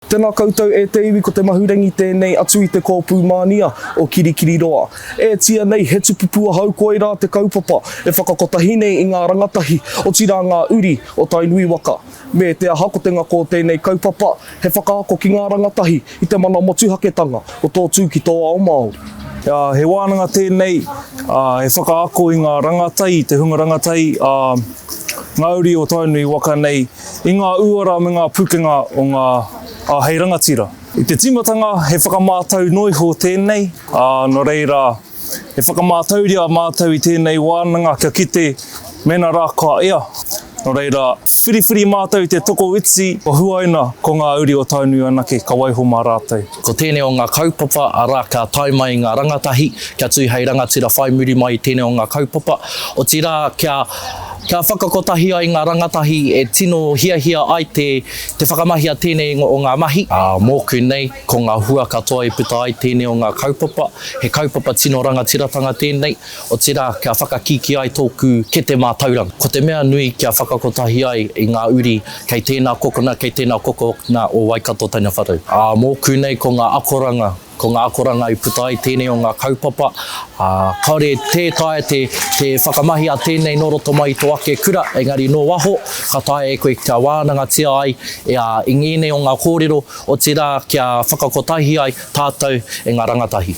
Tena koutou e te iwi ko te mahurangi tenei atu i te kōpū mānia o Kirikiriroa. E tia nei he tupupu ahau koirā te kaupapa e whakakotahi nei i ngā rangatahi otira ngā uri o Tainui waka. Me te aha ko te ngako o tenei kaupapa he whakaako ki ngā rangatahi i te mana motuhaketanga o tō tū ki tō ao Māori. He wānanga tenei he whakaako i ngā rangatahi, te hunga rangatahi a ngā uri o Tainui waka nei I ngā uara me ngā pukenga o ngā āhei rangatira. I te tīmatanga, he whakamātau noa iho tēnei, ā, nō reira, e whakamātauria a mātou i tēnei wānanga kia kite mēnā rā kua ea. Nō reira, whiriwhiri mātou i te tokoiti o Huaina ko ngā uri o Tainui anake ka waiho mā rātou. Ko tēnei o ngā kaupapa, arā, ka tae mai ngā rangatahi, kia tū hei rangatira whai muri mai i tēnei o ngā kaupapa, otirā, kia, kia whakakotahi ai ngā rangatahi e tino hiahia ai te, te whakamahia tēnei o ngā mahi. Ā, mōku nei, ko ngā hua katoa i puta ai tēnei o ngā kaupapa, he kaupapa tino rangatiratanga tēnei, Otirā, kia whakakīkī ai tōku kete mātauranga. Ko te mea nui kia whakakotahi ai i ngā uri kei tēnā kokona, kei tēnā kokona o Waikato tana whare. Ā, mōku nei ko ngā akoranga, ko ngā akoranga i puta ai tēnei o ngā kaupapa, ā, kāore tē taea te, te whakamahi a tēnei nō roto mai i tō ake kura, engari nō waho, ka taea e koe kia wānangatia ai e a, i ngēnei o ngā kōrero, otirā kia whakakotahi ai tātou e ngā rangatahi.